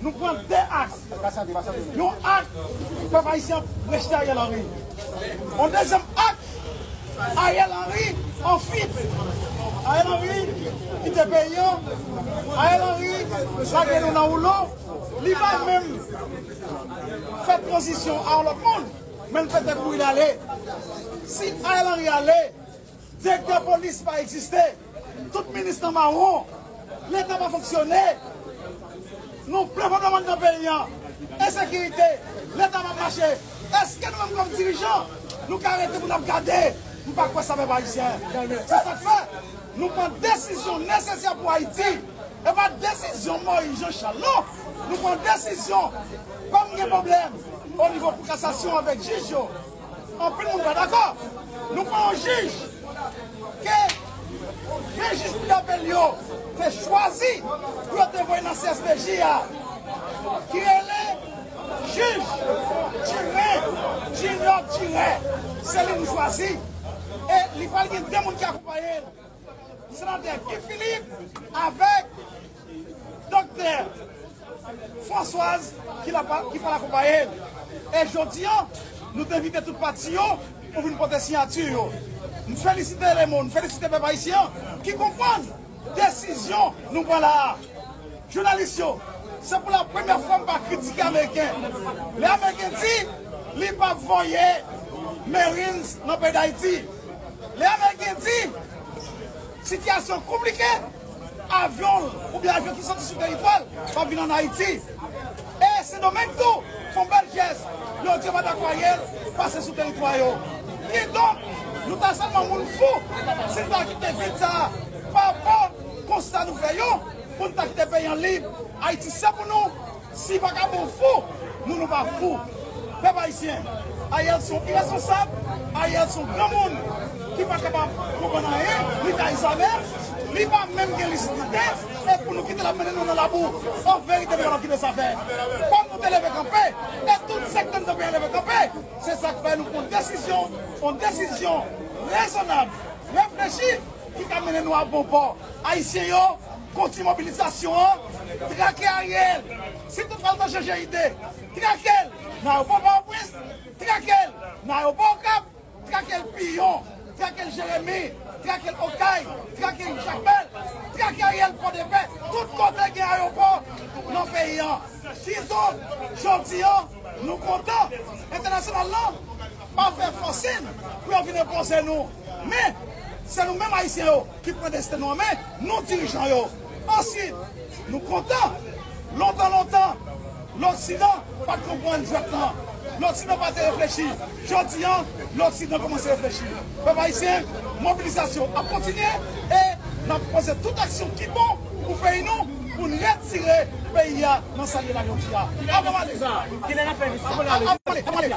Nou pran 2 aks, yon ak pèp ayisyen ap rejte Ariel Henry, yon dezyèm ak Ariel Henry an fuit, Ariel Henry kite peyi an, Ariel Henry lage nou nan woulo, li pa menm fè tranzisyon a yon lòt moun, men l fè tèt pou li ale. Si Ariel Henry ale. Direktè polis pa egziste, tout minis nan mawon, leta pa fonksyone, nou plen pòt laman nan peyi an, ensekirite, leta pa mache, eske nou menm kòm dirijan nou ka rete pou nap gade, m pa kwè sa pèp ayisyen, se sak fè nou pran desizyon nesesè pou ayiti, e pa desizyon moyiz jan chal non, nou pran desizyon kòm gen pwoblèm onivo kou kasasyon avèk jij yo. Anpil moun pa dakò. Nou pran yon jij ke de jij kou dapèl yo te chwazi pou yo te voye nan CSPJ a ki rele jij Djire Junior Djire. Se li nou chwazi e li pral gen de moun ki akonpaye l. Senatè Guy Philippe avèk Doktè Françoise ki la pa ki pral akonpaye l e jodi an nou te envite tout pati yo pou vin pote siyati yo. M felisite lemon, m felisite pèp ayisyen an ki konprann desizyon nou pran la a. Jounalis yo, se pou la premyè fwa m pa kritike ameriken. Lè ameriken di li pa p voye marines nan peyi Dayiti, lè ameriken di sitiyasyon konplike, avyon l oubyen avyon ki soti sou teritwa l pa p vin an Ayiti. E Sendomeng tou fon bèl pyès lè w di yo pa ta kwaye l pase sou teritwa yo. Kidonk, nou ta sèlman moun fou si n ta kite vil sa a pa bò konsta nou fè yo pou n ta kite peyi an lib. Ayiti se pou nou, si pa ka bon fou, nou nou pa fou. Pèp ayisyen, Ariel son irèsponsab, Ariel son granmoun ki pa kapab konprann anyen, li ta Isabelle, li pa menm gen lisidite. Esk pou nou kite lap mennen nou nan labou an verite nou pral kite sa fè fòk nou te leve kanpe e tout sektè nan peyi an leve kanpe se sak fè nou pran desizyon yon desizyon rezonab reflechi ki ka mennen nou a bon pò ayisyen yo kontinye mobilizasyon an trake Ariel si tout fwa nou ta chanje ide trakel nan ayewopò pòtoprens trakel nan ayewopò okap. Trake l Piyon, trake l Jeremi, trake l Okay, trake l Jakmèl, trake Ariel Pòdepè, tout kote gen ayopò nan peyi an. Sizo, jodi an, nou kontan entènasyonal lan pa fè fòsin pou yo vin enpoze nou. Men, se nou menm Ayisyen yo ki pran desten nou an men, nou dirijan yo. Ansuit, nou kontan, lontan lontan, loksidan pa t konprann jwèt lan, loksidan pa te reflechi. Jodi an, loksidan kòmanse reflechi. Pèp ayisyen, mobilizasyon ap kontinye e n ap poze tout aksyon ki bon pou peyi nou pou n retire peyi a nan sa l ye la jodi a. Avan m ale.